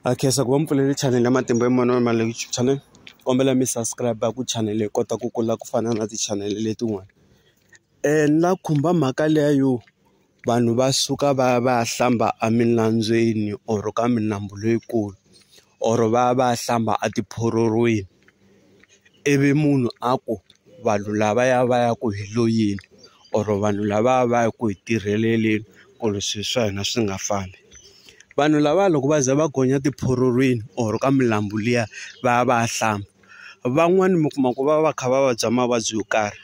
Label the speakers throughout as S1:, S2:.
S1: Ha khensa ku va mi pfulele chanele ya matimba ya mani wa mani leyi YouTube channel kombela mi subscribe ku chanele yi kota ku kula ku fana na tichanele letin'wana ni la khumba mhaka liya yo vanhu va suka va ya va ya hlamba eminambyeni or ka milambu leyikulu or va ya va ya hlamba etiphororweni. ivi munhu a ku vanhu lavaya va ya ku hi lo yini or vanhu lava va ya ku hi tirheleleni ku ri swilo swa hina swi nga fambi vanhu lava loko va za va gonya tiphurulwini or ka milambu liya va ya va ya hlamba van'wani mi kuma ku va va kha va vabya mavabyi yo karhi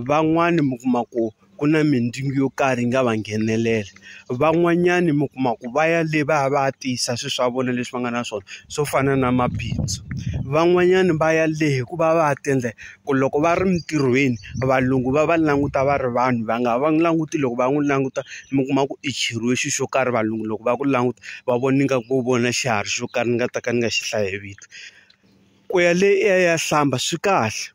S1: van'wani mi kuma ku. ku na mindyangu yo karhi yi nga va nghenelela. Van'wanyani mi kuma ku va ya le va ya va ya tiyisa swilo swa vona leswi va nga na swona swo fana na mabindzu. Van'wanyani va ya le hi ku va va ya ti endla ku loko va ri emintirhweni, valungu va va languta va ri vanhu va nga va n'wi languti loko va n'wi languta mi kuma ku i cheriwe xilo xo karhi valungu loko va ku languta va vona ingaku vo vona xiharhi xo karhi ni nga ta ka ni nga xi hlayi hi vito. Ku ya le i ya i ya hlamba swi kahle.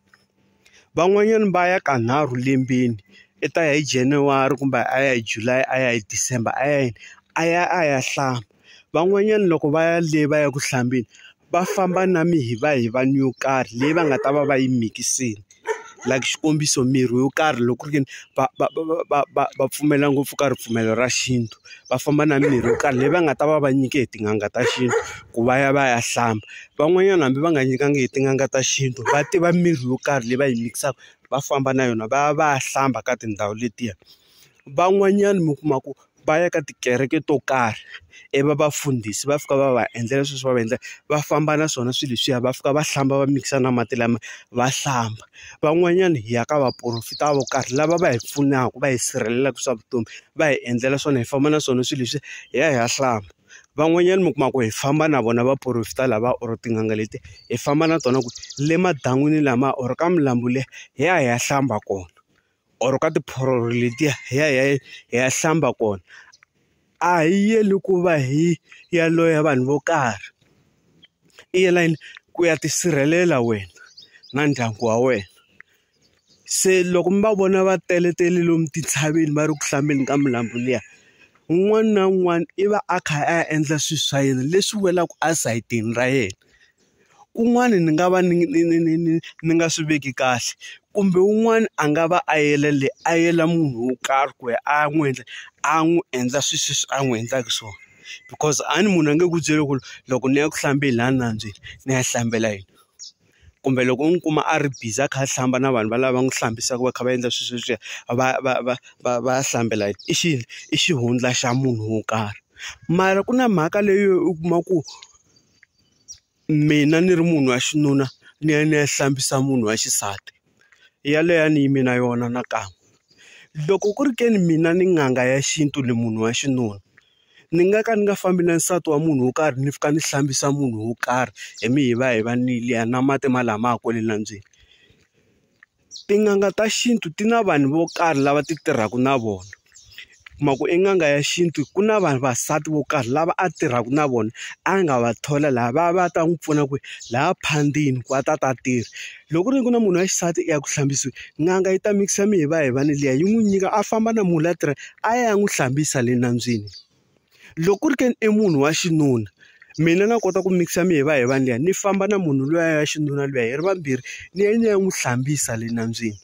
S1: Van'wanyana va ya ka nharhu lembeni i ta ya hi January kumbe a ya hi July a ya hi December a ya yini a ya a ya hlamba van'wanyana loko va ya le va ya ku hlambeni va famba na mihivahiva ni yo karhi leyi va nga ta va va yi mikisini like xikombiso mirhi yo karhi loko ku ri ka va va va va va va pfumela ngopfu ka ripfumelo ra xintu. va famba na mimirhi yo karhi leyi va nga ta va va nyike hi tin'anga ta xintu ku va ya va ya hlamba van'wanyana hambi va nga nyikangi hi tin'anga ta xintu va tiva mirhi yo karhi leyi va yi mikisaka va famba na yona va ya va ya hlamba ka tindhawu letiya van'wanyana mi kuma ku va ya ka tikereke to karhi ivi va vafundhisi va fika va va endlela sweswi va va endla va famba na swona swilo leswiya va fika va hlamba va mikisa na mati lama va hlamba van'wanyana hi ya ka vaporofeta vo karhi lava va hi pfunaka va hi sirhelelaka swa vutomi. va hi endlela swona hi famba na swona swilo leswi hi ya hi ya hlamba van'wanyana mi kuma ku hi famba na vona vaporofeta lava or tin'anga leti hi famba na tona ku le madan'wini lama or ka milambu liya hi ya hi ya hlamba kona or ka tiphororo letiya hi ya hi ya hi ya hlamba kona a hi yeli ku va hi ya loya vanhu vo karhi i yela yini ku ya tisirhelela wena na ndyangu wa wena. Se loko mi va vona va teletele lomu tintshaveni va ri ku hlambeni ka milambu liya, un'wana na un'wana i va a kha a endla swilo swa yena leswi welaka esayitini ra yena. Kun'wana ni nga va ni ni ni ni ni ni nga swi veki kahle, kumbe un'wana a nga va a yele le a yela munhu wo karhi ku ya a ya n'wi endla a n'wi endla swilo leswi a n'wi endlaka swona. Because a ni munhu a nge ku byeli ku loko ni ya ku hlambeni laha nambyeni ni ya hlambela yini. kumbe loko u n'wi kuma a ri busy a kha a hlamba na vanhu valava va n'wi hlambisaka va kha va endla swilo sweswiya va va va va va hlambela yini i xi i xihundla xa munhu wo karhi mara ku na mhaka leyi u kuma ku mina ni ri munhu wa xinuna ni ya ni ya hlambisa munhu wa xisati. yaleyo a ni yimi na yona nakan'we. Loko ku ri ke ni mina ni n'anga ya xintu ni munhu wa xinuna, ni nga ka ni nga fambi na nsati wa munhu wo karhi ni fika ni hlambisa munhu wo karhi hi mihivahivanile ya nwa mati malamaya kwale nambyeni. Tin'anga ta xintu ti na vanhu vo karhi lava ti tirhaka na vona. u kuma ku i n'anga ya xintu ku na vanhu vasati vo karhi lava a tirhaka na vona a nga va thola laha va va ta n'wi pfuna ku laha phandini ku a ta ta tirha loko ku ri ku na munhu wa xisati i ya ku hlambisiwa n'anga yi ta mikisa mi hi va hi va ni liya yi n'wi nyika a famba na munhu la tirha a ya n'wi hlambisa le nambyeni loko ku ri ke ni i munhu wa xinuna mina na kota ku mikisa mi hi va hi va ni liya ni famba na munhu luya ya xinuna luya hi ri vambirhi ni ya ni ya n'wi hlambisa le nambyeni.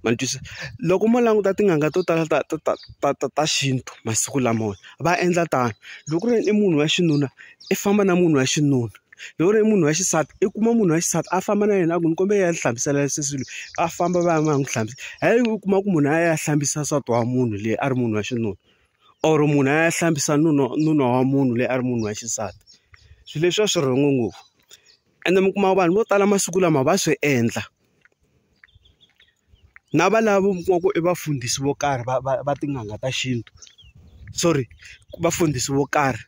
S1: ma ni twisisa loko mo languta tin'anga to tala ta ta ta ta ta ta xintu masiku lamawa va endla tano loko ku ri i munhu wa xinuna i famba na munhu wa xinuna loko ku ri i munhu wa xisati i kuma munhu wa xisati a famba na yena a ku ni kombela ni hlambisela sesi loyi a famba va ya va ya n'wi hlambisa hayi u kuma ku munhu a ya hlambisa nsati wa munhu leyi a ri munhu wa xinuna or munhu a ya hlambisa nuna nuna wa munhu loyi a ri munhu wa xisati swilo leswi a swi rhongo ngopfu ende mi kuma vanhu vo tala masiku lama va swi endla. na va lava va ku i vafundhisi vo karhi va va va tin'anga ta xintu sorry vafundhisi vo karhi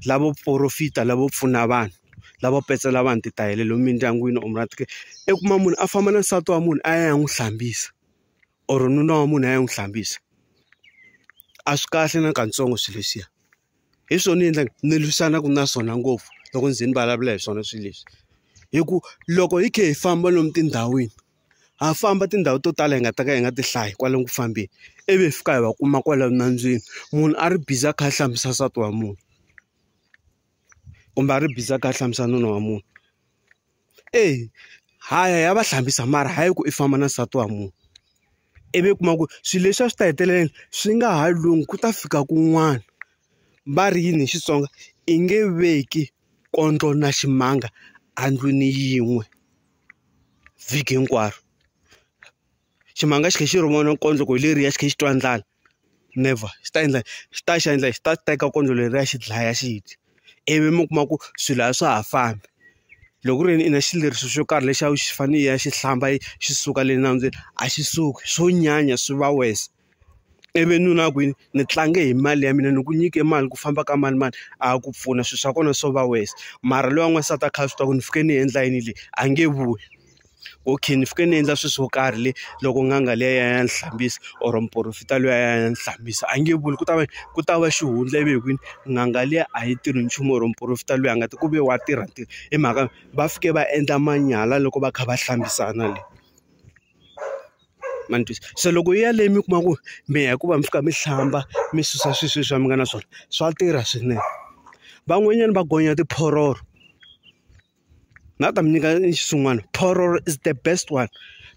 S1: lavo porofita lavo pfuna vanhu lavo petsela vanhu titayele lomu mindyangwini or i kuma munhu a famba na nsati wa munhu a ya ya n'wi hlambisa or nuna wa munhu a ya n'wi hlambisa a swi kahle na katsongo swilo leswiya. hi swona ni endlaka ni lwisanaka na swona ngopfu loko ni ze ni vulavula hi swona swilo leswi hi ku loko hi kha hi famba lomu tindhawini ha famba tindhawu to tala hi nga ta ka hi nga ti hlayi kwalomu ku fambeni ivi hi fika hi va kuma kwala nambyeni munhu a ri busy a kha a hlambisa nsati wa munhu kumbe a ri busy a kha a hlambisa nuna wa munhu. eya ha ya hi ya va hlambisa mara hayi ku i famba na nsati wa munhu ivi u kuma ku swilo leswi a swi ta hetelela swi nga ha lunghi ku ta fika kun'wana va ri yini hi Xitsonga i nge veki kondlo na ximanga endlwini yin'we vhiki hinkwaro. ximanga xi tlhe xi ri vona kondlo ku hi leriya xi tlhe xi twa ndlala never xi ta endla xi ta xi endla xi ta teka kondlo leriya xi dlaya xi dya ivi mi kuma ku swilo a swa ha fambi loko ku ri yini i na xileriso xo karhi lexi a wu xi fanele i ya xi hlamba xi suka le nambyeni a xi suki swo nyanya swi va worse. ivi nuna a ku yini ni tlange hi mali ya mina ni ku nyike mali ku famba ka mani mani a ku pfuna swilo swa kona swo va west mara loyi wa n'wansati a kha a swi tiva ku ni fike ni endla yini leyi a nge vuyi okay ni fike ni endla swilo swo karhi le loko n'anga liya ya ya ni hlambisa or muporofeta luya ya ya ni hlambisa a nge vuli ku ta va ku ta va xihundla ivi hi kwini n'anga liya a yi tirhi nchumu or muporofeta loyi a nga ti ku ve wa tirha ntirho hi mhaka va fike va endla manyala loko va kha va hlambisana le. ma ni twisa se loko yi ya leyi mi kuma ku mi ya hikuva mi fika mi hlamba mi susa swilo sweswiya mi nga na swona swa tirha swinene van'wanyana va gonya tiphororo na ta mi nyika xin'wana phororo is the best one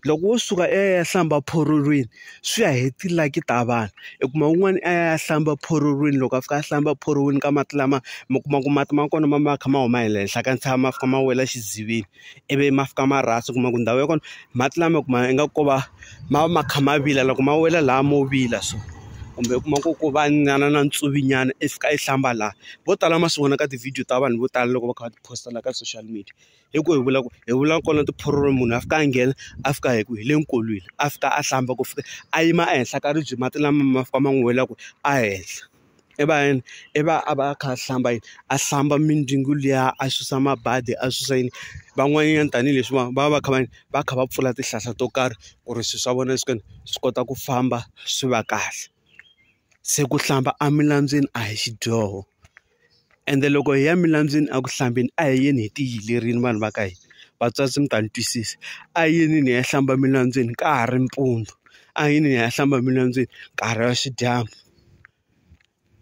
S1: loko wo suka i ya ya hlamba phororweni swi ya hi ti-lucky ta vanhu i kuma un'wana a ya hlamba phororweni loko a fika a hlamba phoroni ka mati lama mi kuma ku mati ma kona ma ma kha ma huma hi le henhla ka ntshava ma fika ma wela xidziveni. ivi ma fika ma rasa u kuma ku ndhawu ya kona mati lama kuma ingaku ko va ma va ma kha ma vila loko ma wela laha mo vila so kumbe u kuma ku ku va nyana na ntsuvi nyana i fika i hlamba laha vo tala ma swi vona ka tivhidiyo ta vanhu vo tala loko va kha va ti post-a la ka social media hi ku hi vula ku hi vula kona tiphuroro munhu a fika a nghena a fika hi ku hi le nkolweni a fika a hlamba ku fika a yima ehenhla ka ribye mati lama ma fika ma n'wi wela ku a henhla. i va yini i va a va a kha a hlamba yini a hlamba mindzwingo liya a susa mabadi a susa yini van'wanyana tanihileswi va va va kha va yini va kha va pfula tihlahla to karhi ku ri swilo swa vona swi swi kota ku famba swi va kahle se ku hlamba emilandzweni a hi xidyoho. Ende loko hi ya milambyeni eku hlambeni a hi yeni hi ti yilerile vanhu va ka hina. Vatswatsi mi ta ni twisisa. A hi yinini hi ya hlamba emilambyeni ka ha ri mpundzu, a hi yinini hi ya hlamba emilambyeni nkarhi wa xidyambu.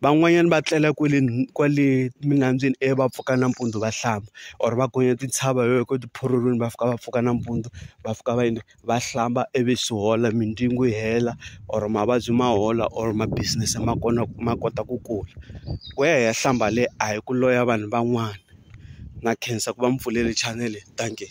S1: Van'wanyana va tlela kwale kwale milambyeni ivi va pfuka nampundzu va hlamba or va gonya tintshava hi yona kwale tiphurulwini va fika va pfuka nampundzu va fika va . va hlamba ivi swi hola mindyangu yi hela or mavabyi ma hola or ma business ma kona ma kota ku kula ku ya hi ya hlamba le a hi ku loya vanhu van'wana na khensa ku va mi pfulele chanele thank you.